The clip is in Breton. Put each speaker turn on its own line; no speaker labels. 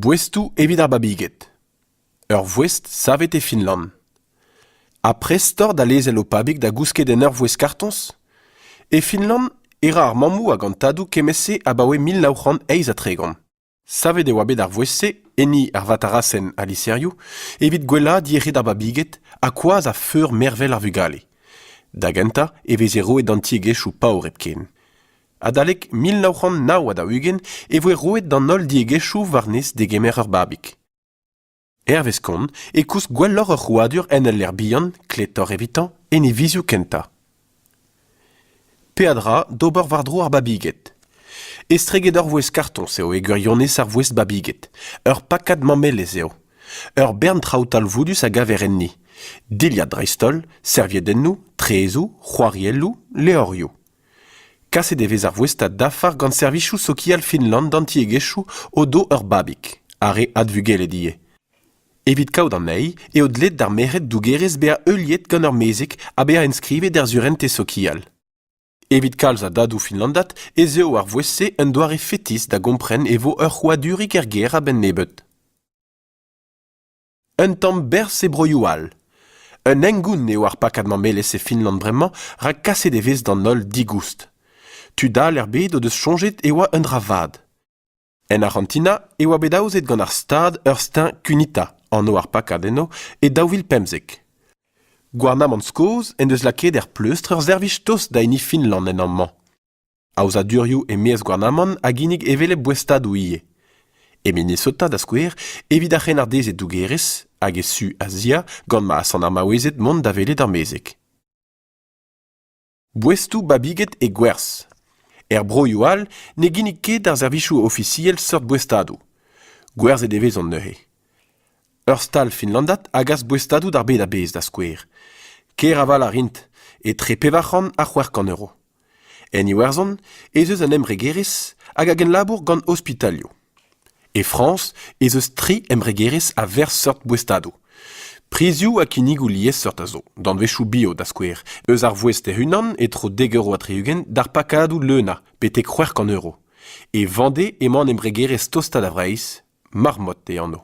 Boestoù evit ar babiged. Ur voest savet e Finland. Ha prest oc'h da lezel ho pabig da gousket en ur voest-kartoñs? E Finland e ra ar mammoù hag an tadoù kement-se abaoe mil nav c'hant eizh ha tregont. Savet e oa bet ar vouezh-se, enni ar vatarasenn ha liserioù, evit gwellaat yec'hed ar babiged ha koaz ha feur mervel ar vugale. Da gentañ e veze roet d'an tiegezhioù paour hepken. Adalek mil nav c'hant nav ha daou-ugent e voe roet d'an holl diegezhioù warnez degemer ur babig. Hervez kont e koust gwelloc'h ur c'hrouadur en ul lec'h bihan, kletoc'h evitañ, en e vizioù kentañ. Peadra d'ober war-dro ar babiged. Estreget ur vouezh kartoñs eo e gwirionez ar vouezh babiged. Ur pakad mamelez eo. Ur bern traoù talvoudus a gaver enni. Dilhad dreist-holl, serviedennoù, traezoù, c'hoarielloù, levrioù. Kaset e vez ar voestad dafar gant servijoù sokial Finland d'an tiegezhioù o-do ur babig, ar re advugelet ivez. Evit kaout anezhi eo dleet d'ar merc'hed dougerez bezañ heuliet gant ur mezeg ha bezañ enskrivet er surentez sokial. Evit kalz a dadoù finlandat ez eo ar voest-se un doare fetis da gompren e vo ur c'hrouadurig er gêr a-benn nebeut. Un tamm berzh e broioù all. Un hengoun eo ar pakad mamelezh e Finland bremañ rak kaset e vez d'an holl digoust. Tud all er bed o deus soñjet e oa un dra vat. En Arc'hantina e oa bet aozet gant ar Stad ur steuñv Cunita, anv ar pakad eno, e daou vil pemzek. Gouarnamant Skos en deus lakaet er pleustr ur servij tost da hini Finland en amañ. Aozadurioù e-maez gouarnamant a ginnig hevelep boestadoù ivez. E Minnesota, da skouer, evit ar c'hrennardez e dougerez hag e su Azia gant ma asant ar maouezed mont da welet ar mezeg. Boestoù babiget e gwerzh. Er broioù all ne ginnig ket ar servijoù ofisiel seurt boestadoù. Gwerzhet e vezont neuze. Ur stal finlandat a gas boestadoù d'ar bed a-bezh, da skouer. Ker aval a rint, etre pevar c'hant ha c'hwec'h kant euro. En Iwerzhon ez eus an embregerezh hag a genlabour gant ospitalioù. E Frañs ez eus tri embregerezh a verz seurt boestadoù. Prizioù ha kinnigoù liesseurt a zo, danvezioù bio da skouer, eus ar vouezh hec'h-unan e-tro dek euro ha tri-ugent d'ar pakadoù leunañ betek c'hwec'h kant euro. E Vañde emañ an embregerezh tostañ da Vreizh, Marmot e anv.